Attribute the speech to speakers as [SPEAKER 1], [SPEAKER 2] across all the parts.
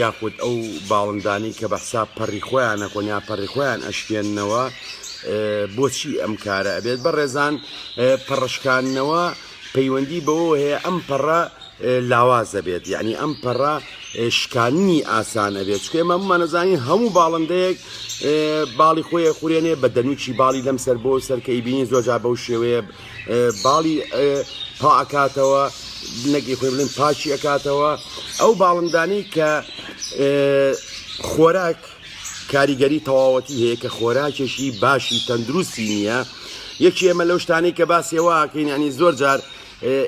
[SPEAKER 1] یاخود ئەو باڵندانەی کە بەحساب پەڕی خۆیان نەکۆن یا پەڕی خۆیان ئەشکێننەوە بۆچی ئەم کارە ئەبێت بە ڕێزان پەڕشکانەوە پەیوەندی بەوە هەیە ئەم پەڕە لاواز دەبێت یعنی ئەم پەڕە شکاننی ئاسان ئەبێت چکێ مەمانەزانین هەموو باڵندەیەک باڵی خۆیە خورێنێ بە دەنوچی باڵی لەم سەر بۆ سەرکەی بینی زۆجا بەو شێوەیە باڵی پا ئەکاتەوە نەگەی خۆی بڵێن پاچی ئەکاتەوە ئەو باڵندانەی کە خۆراک کاریگەری تەواوەتی هەیە کە خۆراکێکی باشی تەندروستی نییە یەکی ئێمە لەو شتانەی کە باسێواکەین ینی زۆر جار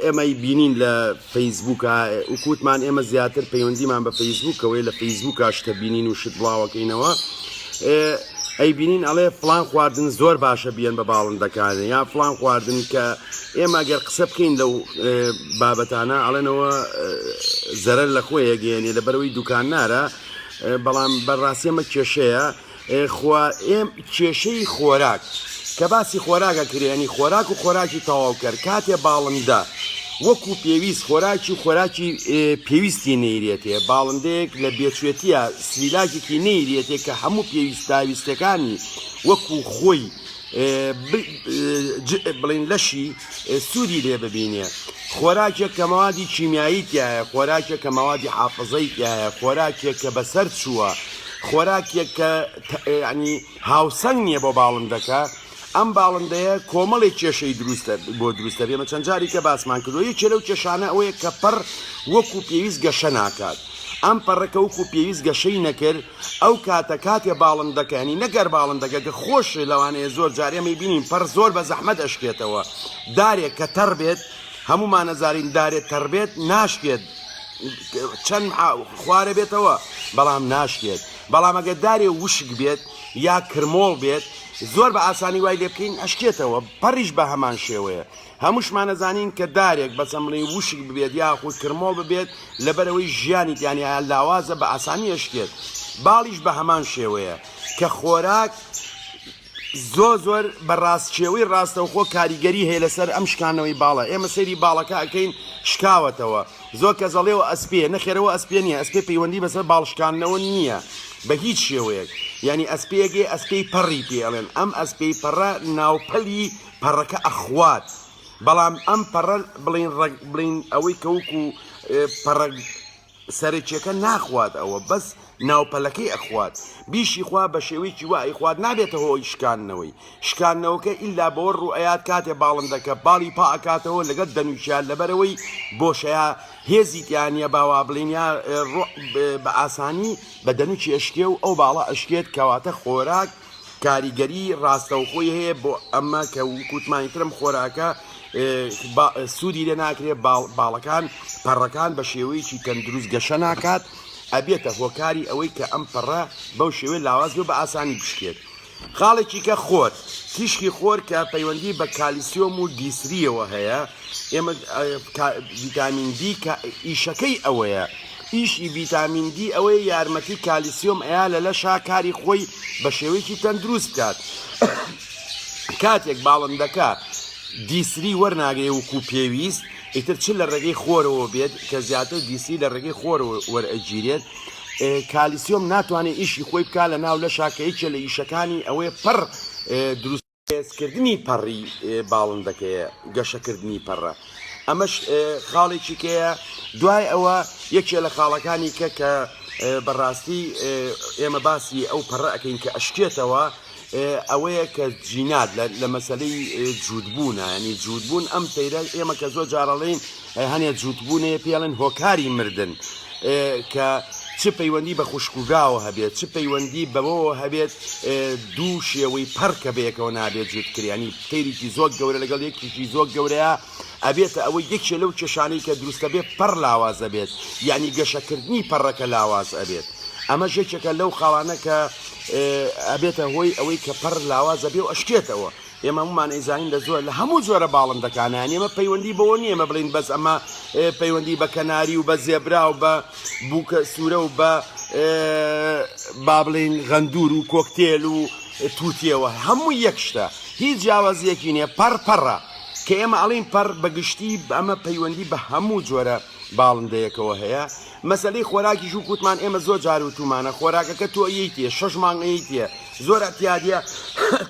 [SPEAKER 1] ئێمەی بینین لە فەیسبووکە، وەکو وتمان ئێمە زیاتر پەیوەندیمان بە فەیسبووکەوەیە لە فەیسبووکە شتە بینین و شت بڵاوەکەینەوە ئەیبینین ئەڵێ فڵان خواردن زۆر باشە بیەن بە باڵندەکانە یا فڵان خواردن کە ئێمە گەر قسە بکەین لەو بابەتانە ئەڵێنەوە زەرەر لە خۆیەگەیەنێ لە بەرەوەی دوکان نارە بەڵام بەڕاستیەمە کێشەیە خوارئێم کێشەی خۆراک کە باسی خۆراگە کرێنی خۆراک و خۆراکی تەواوکەر کاتێ باڵندە وەکو پێویست خۆراکی و خۆراکی پێویستی نەیرێتێ باڵندەیەک لە بێچێتیە سلیلاکێکی نەیرێتێ کە هەموو پێویستاویستەکانی وەکو خۆی بڵین لەشی سوودی لێ ببینێ، خۆراکێک کە مەوادی کیمیایی تیایە، خۆراکێک کە مەوادی حافزەی تیایە، خۆراکێک کە بەسەر چووە، خۆراکێک کە یانی هاوسەنگ نییە بۆ باڵندەکە، ئەم باڵندەیە کۆمەڵێک کێشەی دروست بۆ دروست دەبێ، ئێمە چەند جاریکە باسمان کردووە، یەکێ لەو کێشانە ئەوەیە کە پەڕ وەکوو پێویست گەشە ناکات، ئەم پەڕەکە وەکوو پێویست گەشەی نەکرد، ئەو کاتە کاتێ باڵندەکە یانی نەک گەر باڵندەکە گە خۆش لەوانەیە زۆر جار ئێمەی بینین پەر زۆر بە زەحمەت ئەشکێتەوە دارێک کە تەڕ بێت هەمومان نەزارین دارێت تەڕ بێت ناشکێت چەند خوارە بێتەوە بەڵام ناشکێت بەڵام ئەگە دارێ وشک بێت یا کرمۆڵ بێت زۆر بە ئاسانی وای لێ بکەین ئەشکێتەوە پەڕیش بە هەمان شێوەیە هەمووشمان ئەزانین کە دارێک بە چەمڵی وشک ببێت یاخود کرمۆڵ ببێت لەبەرئەوەی ژیانی تیانیایە لاوازە بە ئاسانی ئەشکێت باڵیش بە هەمان شێوەیە کە خۆراک زۆ زۆر بە ڕاستچێوەی ڕاستەوخۆ کاریگەری هەیە لەسەر ئەم شکانەوەی باڵە ئێمە سەیری باڵەکە ئەەکەین شکاوەتەوە زۆر کە زەڵێەوە ئەسپێ نەخێرەوە ئەسپێ نیە ئەسپێ پەیوەندی بەسەر باڵشکانەوە نییە بە هیچ شێوەیەک یعنی ئەسپێگەی ئەسپی پەڕی پێڵێن ئەم ئەسپی پەڕە ناوپەلی پەڕەکە ئەخوات بەڵام ئەم پەڕە بڵین ڕەگ بڵین ئەوەی کەوک و پەڕەگ سەرەکیەکە ناخوات ئەوە بەس ناوپەلەکەی ئەخوات بیشی خوا بە شێوەیەکی وا ئەیخوات نابێتە هۆی شکاندنەوەی شکاندنەوەکە ئللا بەوە ڕوئەیات کاتێ باڵندەکە باڵی پا ئەکاتەوە لەگەر دەنوچیان لەبەرەوەی بۆشەیە هێزی تیانە باوا بڵین یا ڕۆ بە ئاسانی بە دەنوچی ئەشکێ و ئەو باڵە ئەشکێت کەواتە خۆراک کاریگەری ڕاستەوخۆی هەیە بۆ ئەمە کە وکوتمانی ترم خۆراکە سوودی لێ ناکرێت باڵەکان پەڕەکان بە شێوەیەکی تەندروست گەشە ناکات ئەبێتە هۆکاری ئەوەی کە ئەم پەڕە بەو شێوەی لاواز بێ بە ئاسانی بشکێت خاڵێکی کە خۆر تیشکی خۆر کە پەیوەندی بە کالیسیۆم و دیسریەوە هەیە ئێمە ڤتامین دی کە ئیشەکەی ئەوەیە ئیشی ڤیتامین دی ئەوەیە یارمەتی کالیسیۆم ئەیا لە لەشا کاری خۆی بە شێوەیەکی تەندروست بکات کاتێک باڵندەکە دیسری وەرناگرێ وکو پێویست ئیتر چ لە ڕێگەی خۆرەوە بێت کە زیاتر دیسی لە ڕێگەی خۆر وەرئەگیرێت کالیسیۆم ناتوانێت ئیشی خۆی بکە لە ناو لە شاکەیکە لە ئیشەکانی ئەوەیە پڕ دروست هێزکردنی پەڕی باڵندەکەیە، گەشەکردنی پەڕە، ئەمەش خاڵێکی کەیە دوای ئەوە یەکێ لە خاڵەکانی کە کە بەڕاستی ئێمە باسی ئەو پەڕە ئەەکەین کە ئەشکێتەوە ئەوەیە کە جینات لە مەسلەی جوودبوونە ینی جوودبوون ئەم سەیرە ئێمە کە زۆر جارەڵین هەنێ جووتبوونێ پێڵێن هۆکاری مردن کە چ پەیوەندی بە خوشکوگاوە هەبێت چ پەیوەندی بەوەوە هەبێت دوو شێوەی پەڕکە بەیەکەوە نابێت جووتکریانی تێریکی زۆر گەورە لەگەڵ یەکیکی زۆر گەورەیە ئەبێتە ئەوە یەکێ لەو کێشانەی کە دروستە بێت پەڕ لاوازە بێت یعنی گەشەکردنی پەڕەکە لاواز ئەبێت ئەمە ژێکێکە لەو خاڵانە کە ئەبێتە هۆی ئەوەی کە پەڕ لاوازە بێ و ئەشکێتەوە ئێمە هەموومان ئەیزانین لە زۆر لە هەموو جۆرە باڵندەکانیان ئێمە پەیوەندی بەوە نیە ئێمە بڵین بەس ئەمە پەیوەندی بە کەناری و بە زێبرا و بە بووکە سوورە و بە با بڵین غەندور و کۆکتێل و تووتیەوە هەموو یەک شتە هیچ جیاوازیەکی نیە پەرپەڕە کە ئێمە ئەڵین پەر بەگشتی ئەمە پەیوەندی بە هەموو جۆرە باڵندەیەکەوە هەیە مەسەلەی خۆراکیش وەک وتمان ئێمە زۆر جار وتومانە خۆراکەکە تۆ ئەیەیتێ شەش مانگ ئەیەیتێ زۆر ئەتیادە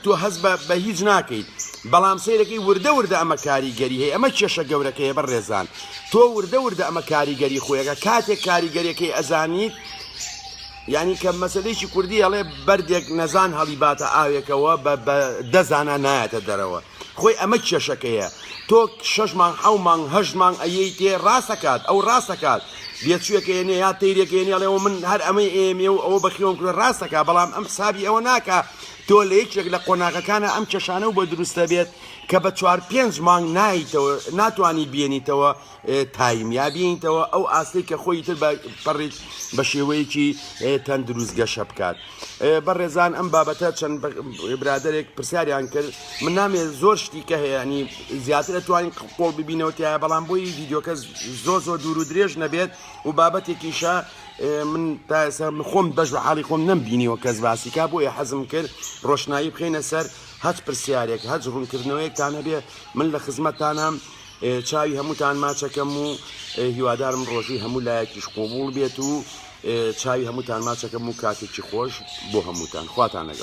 [SPEAKER 1] تۆ هەز بە بە هیچ ناکەیت بەڵام سیرەکەی وردە وردە ئەمە کاریگەری هەیە ئەمە کێشە گەورەکەیە بە ڕێزان تۆ وردە وردە ئەمە کاریگەری خۆیەکە کاتێک کاریگەریەکەی ئەزانیت یعنی کە مەسلەیەکی کوردی ئەڵێ بەردێک نەزان هەڵیباتە ئاوێکەوە بە دەزانە نایەتە دەرەوە خۆی ئەمە کێشەکەیە تۆ شەش مانگ حەو مانگ هەشت مانگ ئەیەی تێ ڕاستەکات ئەو ڕاستەکات بێچووەکە ێنێ یا تەیرێکە ێنێڵەوە من هەر ئەمەی ئێمێ و ئەوە بەخیۆم کرد ڕاستەکە بەڵام ئەم حسابی ئەوە ناکە تۆ لە یەکێک لە قۆناغەکانە ئەم کێشانە و بە دروستە بێت کە بە چوار پێنج مانگ نایتەوە ناتوانانی بێنیتەوە تایم یا بینیتەوە ئەو ئاستەی کە خۆی تر بە پەڕیت بە شێوەیەکی تەندروست گەشە بکات بە ڕێزان ئەم بابەتە چەند برادێک پرسیاریان کرد من نامێ زۆر شتی کە هەیەنی زیاتر توانین قۆڵ ببینەوە تایە بەڵام بۆی یددیوکە زۆ زۆ دوور و درێژ نەبێت و بابەتێکیشە من تاسە خۆم بەش بە حاڵی خۆم نەم بینیەوە کەس باسیکا بۆیە حەزم کرد ڕۆشنایی بخینە سەر هەچ پرسیارێک هەچ ڕوونکردنەوەیەکتان هەبێ من لە خزمەتانم چاوی هەمووتان ماچەکەم و هیوادارم ڕۆژی هەموو لایەکیش قوبوڵ بێت و چاوی هەمووتان ماچەکەم و کاتێکی خۆش بۆ هەمووتان خواتان لەگەڵ